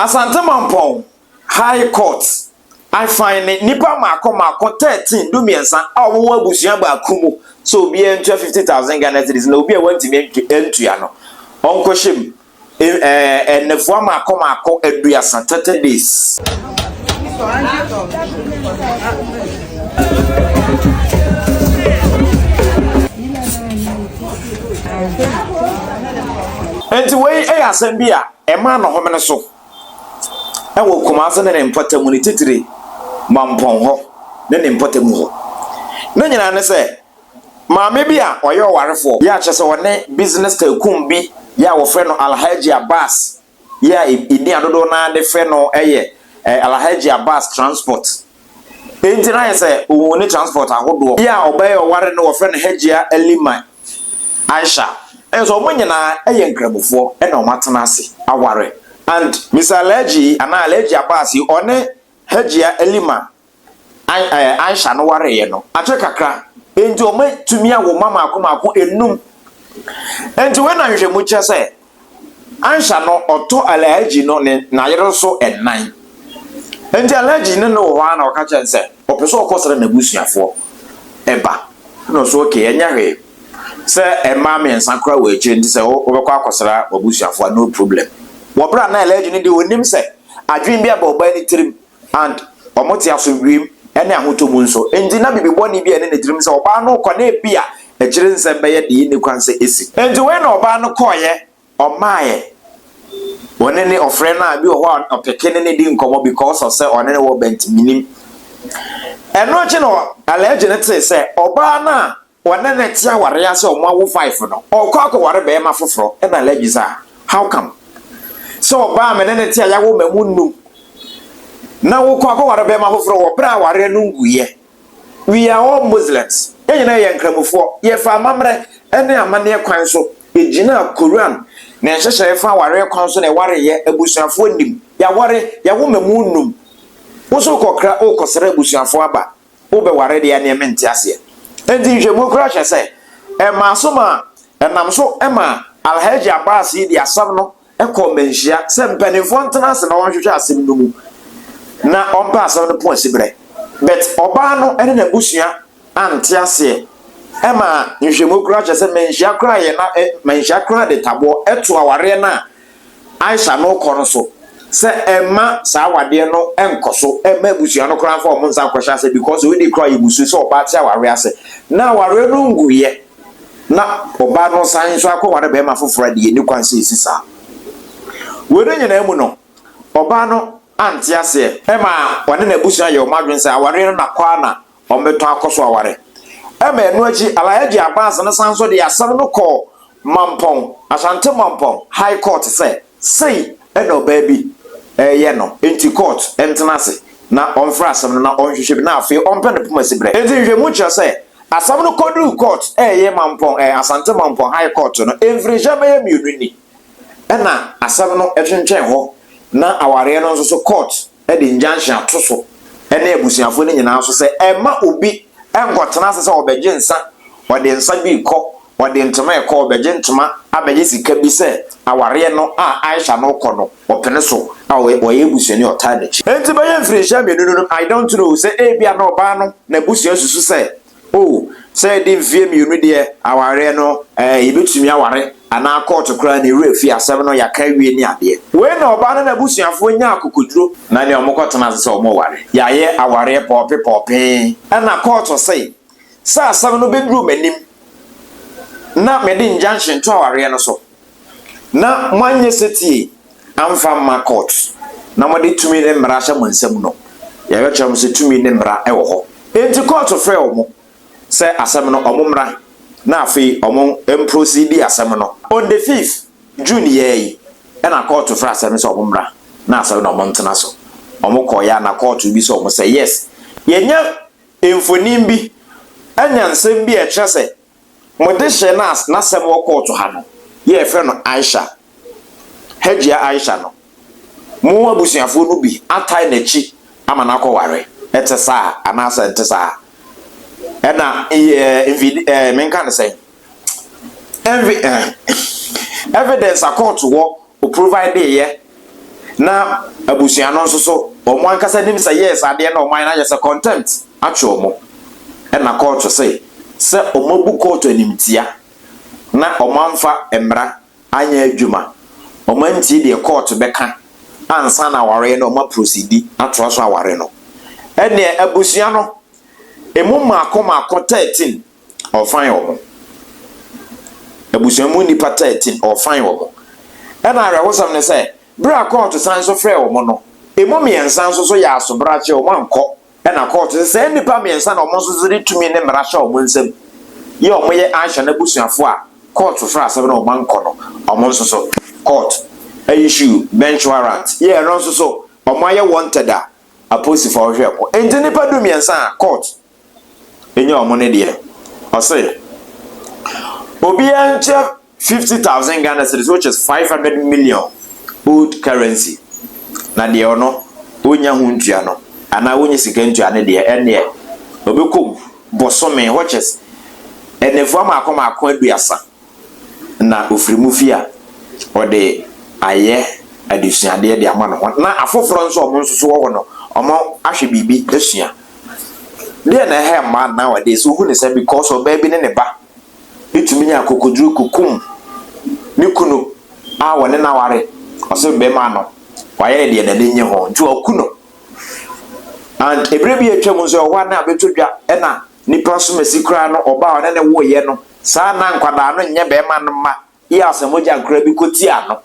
Asantemanpɔn High Court afine nnipa mmaako mmaako thirteen du mmiɛnsa a wɔwɔ abusua baako mu sɛ obiara ntua fifty thousand Ghana cedis na obi a wantumi antua no ɔnkɔhyɛ mu. eh, nnɛfoɔ mmaako mmaako aduasa, thirty days. nti wei yɛ asɛm bi a ɛma nɔhome no so ɛwɔ kumase ne ne mpɔtamu ne titire mampɔn hɔ ne ne mpɔtamu hɔ ne nyinaa ne sɛ Maame bi a ɔyɛ ɔwarefoɔ yɛ a kyerɛ sɛ ɔne business tycoon bi yɛ a wɔfrɛ no Alhaji Abbas yɛ a ɛdi a dodoɔ no ara de frɛ no yɛ Alhaji Abbas Transport. Enti no ayɛ sɛ ɔhu ne transport ahodoɔ yɛ a ɔbɛyɛ ɔware no wɔfrɛ no Hajia Alima Aisha. Nso wɔn nyinaa yɛ Nkramofoɔ na wɔn atena ase aware and Mister Alhaji anaa Alhaji Abbas yi ɔne Hajia Alima Aisha no wareeɛ no, akyere kakra, enti wɔatumi awo mma mmaako mmaako nnum. Enti wei na nhwehwɛmu kyerɛ sɛ Aisha no ɔtɔ Alhaji no ne n'ayere so nnan. Enti Alhaji ne no wɔ hɔ ara na ɔka kyerɛ no sɛ ɔpɛ sɛ ɔkɔsra n'abusuafoɔ ba. Ɛna ɔsɛ okay, ɛnyɛ hwee. Sɛ mmaa mmiɛnsa koraa wɔ akyire nti sɛ wobɛkɔ akɔsra w'abusuafoɔ a, no problem. Wɔ berɛ a na Alhaji no deɛ ɔnnim sɛ adwene bi aba ɔbaa no tirim And wɔte asomdwoem ne ahotɔ mu nso. Enti na biribi bɔne bi a ɛne ne tirim sɛ ɔbaa no rekɔ na ebia akyire nsɛm bɛyɛ deɛ ɛnni kwan sɛ ɛsi. Enti wei na ɔbaa no kɔeɛ, ɔmaaeɛ. Ɔne ne ɔfrɛ no a bi wɔ hɔ a ɔpeke ne ne di nkɔmmɔ because of sɛ ɔne ne wɔ bɛnti, mennim. Ɛno akyi no alleged no tee sɛ ɔbaa no a Ɔne ne te awareɛ ase a wɔawo five no, ɔkɔ akɔware barima foforɔ ɛna alleged sɛ ah how come? Sɛ ɔbaa a me ne no te a yɛawo mma mu nnum na wokɔ akɔware barima foforɔ wɔ berɛ a awareɛ no nguiɛ. We are all Muslims, yɛn nyinaa yɛ Nkramofoɔ, yɛfa amammerɛ ne amanneɛ kwan so gyinaa Qur'an ne nhyehyɛeɛ fa awareɛ kwan so na yɛwareeɛ, abusuafoɔ nnim, yɛaware, yɛawo mma mu nnum, wo nso wokɔkra worekɔsra abusuafoɔ aba. wobɛware deɛ ɛneɛ mente aseɛ. Enti nhwɛmu koraa hwɛ sɛ ɛmaa so ma ɛnam so ma Alhaji Abbas yi de asɛm no kɔɔ mmanhyia sɛ mpanimfoɔ ntena ase na wɔnhwehwɛ asɛm no mu na wɔmpɛ asɛm no po asiberɛ. But ɔbaa no ne n'abusua ante aseɛ ɛmaa nhwɛmu koraa hwɛ sɛ mmanhyia koraa yɛ na mmanhyia koraa de taboɔ to awareɛ no a Aisha no kɔ no so sɛ ɛmma saa awadeɛ no nkɔ so ɛmma abusua no koraa mfa wɔn nsa nkɔhyɛ ase because wei deɛ koraa yɛ mmusuo sɛ ɔbaa te awareɛ ase na awareɛ no nguiɛ na ɔbaa no san nso akɔware bɛrima foforɔ a deɛ ɛni kwan sɛ ɛsi saa wei no nyinaa mu no ɔbaa no ante aseɛ ɛma ɔne n'abusua yɛ wɔn adwene sɛ awareɛ no na kɔ ara na wɔbɛtɔ akɔ so aware. Ɛma ɛno akyi, Alhaji Abbas no san nso de asɛm no kɔɔ Mampong, Ashanti Mampong, High Court sɛ sei na ɔbaa bi reyɛ no, enti court ntena ase na wɔmfrɛ asɛm no na wɔnhwehwɛ bi na afei wɔmpɛ no poma siberɛ. Enti nhwehwɛmu kyerɛ sɛ asɛm no kɔduruu court, ɛyɛ Mampong, ɛɛ, Asante Mampong High Court no, mfirinhyia bɛyɛ mmienu ni na asɛm no twentwɛn hɔ na awareɛ no nso so court, de injunction ato so ne abusuafo no nyinaa so sɛ ɛmma obi nkɔtena ase sɛ ɔbɛgye nsa, ɔde nsa bi rekɔ, ɔde ntoma rekɔ, ɔbɛgye ntoma abɛgye sika bi sɛ awareɛ no a Aisha no rekɔ no ɔpene so a ɔyɛ abusuani a ɔtaa n'akyi. Enti bɛyɛ mfirihyia mmienu no, I don't know sɛ ebia na ɔbaa no n'abusua susu sɛ O, sɛ yɛde mfeɛ mmienu deɛ awareɛ no ɛɛ yɛbɛtumi aware anaa kɔɔto koraa ne werɛ fi asɛm no yɛaka awie ne adeɛ. Wei na ɔbaa no n'abusuafoɔ nyaa akokoduro na ɛnneɛ wɔkɔtena ase sɛ wɔreware. Yɛayɛ awareɛ pɔɔpe pɔɔpe ɛna kɔɔto se sɛ asɛm no bɛduru m'anim na mede injunction to awareɛ no so na moanyɛ setie amfa amma court na wɔde tumi ne mmara ahyɛ mo nsam no, yɛbɛkyerɛ mo sɛ tumi ne mmara wɔ hɔ. Enti court frɛɛ wɔn sɛ asɛm no wɔn mmra na afei wɔn mprosiidi asɛm no. On the fifth June yɛɛ yi na court frɛ asɛm no sɛ wɔn mmra na asɛm no wɔn ntena so. Wɔn kɔeɛ a na court rebisa wɔn sɛ yes yɛanya mfonin bi, anya nsɛm bi a ɛkyerɛ sɛ Mo dehyeɛ no a n'asɛm wɔ kɔɔto ha no yɛ yɛfrɛ no Aisha, Hajia Aisha no, mo abusuafoɔ no bi atae n'akyi ama no akɔware, ɛte saa anaasɛ ɛnte saa? Ɛna yɛ mfid ɛɛ menka no sɛn? Ɛnvi ɛɛ evidence a kɔɔto wɔ o provideeɛ Na abusua no nso so, wɔn ankasa nim sɛ yes adeɛ na wɔayɛ no ayɛ sɛ contempt atwe wɔn. Ɛna kɔɔto se sɛ wɔabu kɔɔto animtia na wɔamfa mmara anyɛ adwuma, wɔantie deɛ kɔɔto bɛka ansa na awareɛ no wɔaprosidi atoa so aware no. Ɛneɛ abusua no emu mmaako mmaako 13 ɔrefan wɔn. Abusua mu nnipa taa ti no, ɔrefan wɔn. Ɛna awerɛhosɛm ne sɛ, bere a kɔɔto san so frɛɛ wɔn no, emu mmiɛnsa nso so yɛɛ asobrakyee, wɔankɔ. Ɛna kɔɔto se, saa nnipa mmiɛnsa na wɔn nso so de tumi ne mmara hyɛ wɔn nsam, yi a wɔyɛ Aisha n'abusuafo a kɔɔto frɛɛ asɛm na wɔankɔ no, wɔn nso so, kɔɔto issue bench warrant, yi a ɛno nso so wɔayɛ wanted a apolisifo rehwɛ wɔn. Enti nnipa dummiɛnsa a kɔɔto nyɛ wɔn no deɛ, ɔse obiara nkyɛ fifty thousand Ghana cedis which is five hundred million old currency na deɛ ɔno wonya ho ntua no anaa wonya sika ntua no deɛ ɛneɛ ɔbɛkɔ bosome which is ɛnɛfua maako maako aduasa na ɔfiri mu fie a, ɔde ayɛ adesuadeɛ de ama ne ho na afoforɔ nso a wɔn nso so wɔ hɔ no, wɔahwɛ biribi asua. Deɛ na ɛha mmaa nowadays, wohu ne sɛ because ɔbaa bi ne ne ba tumi nya akokoduro kukum ne kunu a wɔne no aware, ɔsɛ bɛrima no, wayɛ ne deɛ n'ani nye ho nti waku no. And ɛberɛ bi atwam nso ɛwɔ hɔ a na abɛtɔ dwa na Nipa sumasi koraa no ɔba a ɔne no woeɛ no, saa na nkwadaa no nnyɛ bɛrima no mma yɛ asɛ mogya nkoraa bi kɔtia no.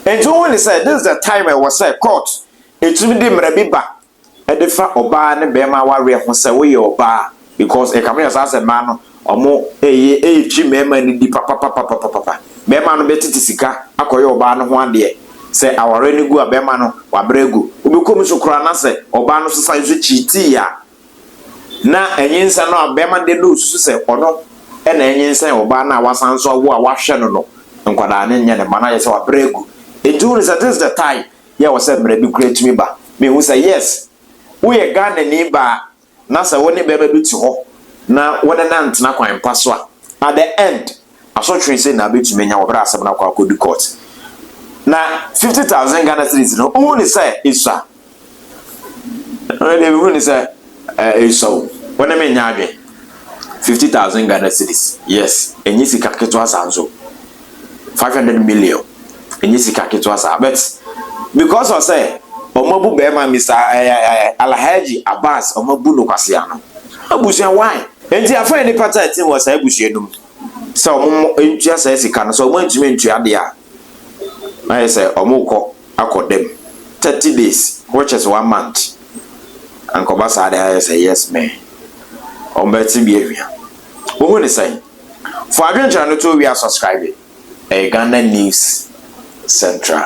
Enti wohu ne sɛ, this is the time a ɛwɔ sɛ court ɛtumi de mmara bi ba ɛde fa ɔbaa ne bɛrima awareɛ ho sɛ woyɛ ɔbaa because ɛkame yɛ saa sɛ mmaa no Ɔmo eye eetwi mɛɛma no di papapapapapapa. Bɛɛma no bɛtsetse sika akɔyɛ ɔbaa no ho adeɛ. Sɛ awareɛ no gu a, bɛɛma no wabrɛ agu. Obɛkɔ mu so koraa na sɛ ɔbaa no so san so kyiitii a, na anyinsɛn no a bɛɛma no de no osusu sɛ ɔno na anyinsɛn ɔbaa no a wasan so awo a w'ahwɛ no no nkwadaa no nyɛ ne mma no ayɛ sɛ wabrɛ agu. Nti wohu sɛ this is the time yɛ wɔ sɛ mmara bi koraa tumi ba. Mehu sɛ yes woyɛ Ghanani baa. na sɛ wo ne barima bi te hɔ na wo ne no antena kwan pa so a, at the end, asotwe sei na wobɛtumi anya wɔ berɛ a asɛm no akɔ akɔdu court. Na fifty thousand Ghana cedis no, wohu ne sɛ ɛsua? Ɛno deɛ mehu ne sɛ ɛsua o, wo ne me nyɛ adwene. Fifty thousand Ghana cedis, yes, ɛnyɛ sika ketewa saa nso. five hundred million ɛnyɛ sika ketewa saa but because of sɛ wɔn abu bɛrima mr ɛɛ ɛɛ alhaji abbas wɔn abu no kwasea no abusua why nti afɔ yɛ nipa tɛ ɛte wɔ saa abusua no mu sɛ wɔn ntua saa sika no sɛ wɔn ntumi ntua deɛ a ayɛ sɛ wɔn kɔ akɔ dɛm thirty days which is one month ankɔba saa deɛ ayɛ sɛ yes man wɔn bɛte bi ahwia wɔn ho ne sɛn. Fo adwenkyerɛ no to wia subscribe ɛyɛ Ghana news central.